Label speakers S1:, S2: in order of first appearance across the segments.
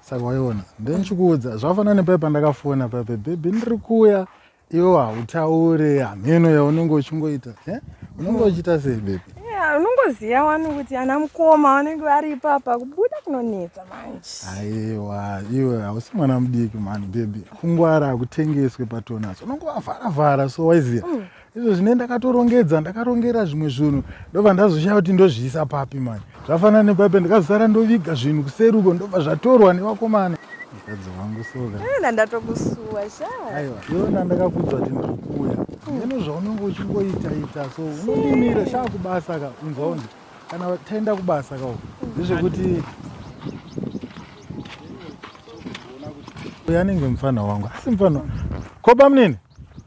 S1: saka waiona then chikuudza zvafana nepai pandakafona pape bhebhi ndiri kuya iwo hautaure hameno yaunenge uchingoita eh? unenge uchiita sei bhebhi unongoziva wani kuti ana mukoma vanenge vari ipapa kubuda kunonetsa manje aiwa iwe hausi mwana mudiki mani bhebhi kungwara hakutengeswe patonas unongovavharavhara so waiziva mm. izvo zvine ndakatorongedza ndakarongera zvimwe zvinhu ndobva ndazoshaya kuti ndozviisa papi mani zvafanana nepapi ndikazosara ndoviga zvinhu kuseri uko ndobva zvatorwa nevakomana mukadzi wangu soka ndatokusuwa shaaiwa iona ndakakudzwa kuti ndiri kuuya ino zvaunenge uchingoita ita so unondimira shaa kubasa ka unzwa unzi kana taenda kubasa ka uku ndezvekuti uyo anenge mufana wangu asi mufana ko bamunini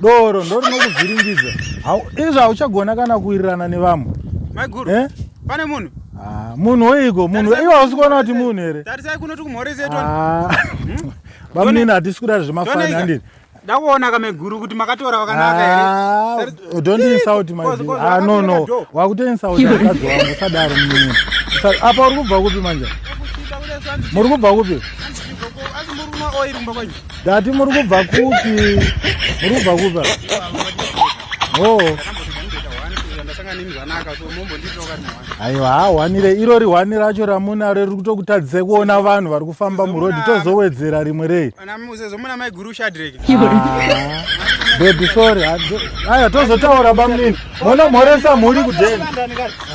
S1: doro ndo rinokuvhiringidza izvo hauchagona kana kuwirirana nevamwe maiguru eh? pane munhu ah, munhu weiko munhu iwe hausi kuona kuti munhu here tarisai kuno tikumhorezeto ah. hmm? bamunini hatisi kudari zvemafani andini ndakuona kameguru kuti makatora vakanaka here ah, don't insult my ah no no wakuto insult mukadzi wangu usadaro munini apa uri kubva kupi manje muri kubva kupi Dati muri kubva kupi? Muri kubva kupi? Oh. Aiwa, hwanire iro rihwani racho ramuna riri kutokutadzisa kuona vanhu vari kufamba muroad tozowedzera rimwe rei. Zomuna mai guru Shadrek. Ah. Baby sorry. Aya tozotaura bamnini. Mona mhoresa mhuri kudeni.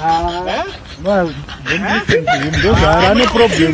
S1: Ah. Eh? No, don't listen to him. Those are any problem.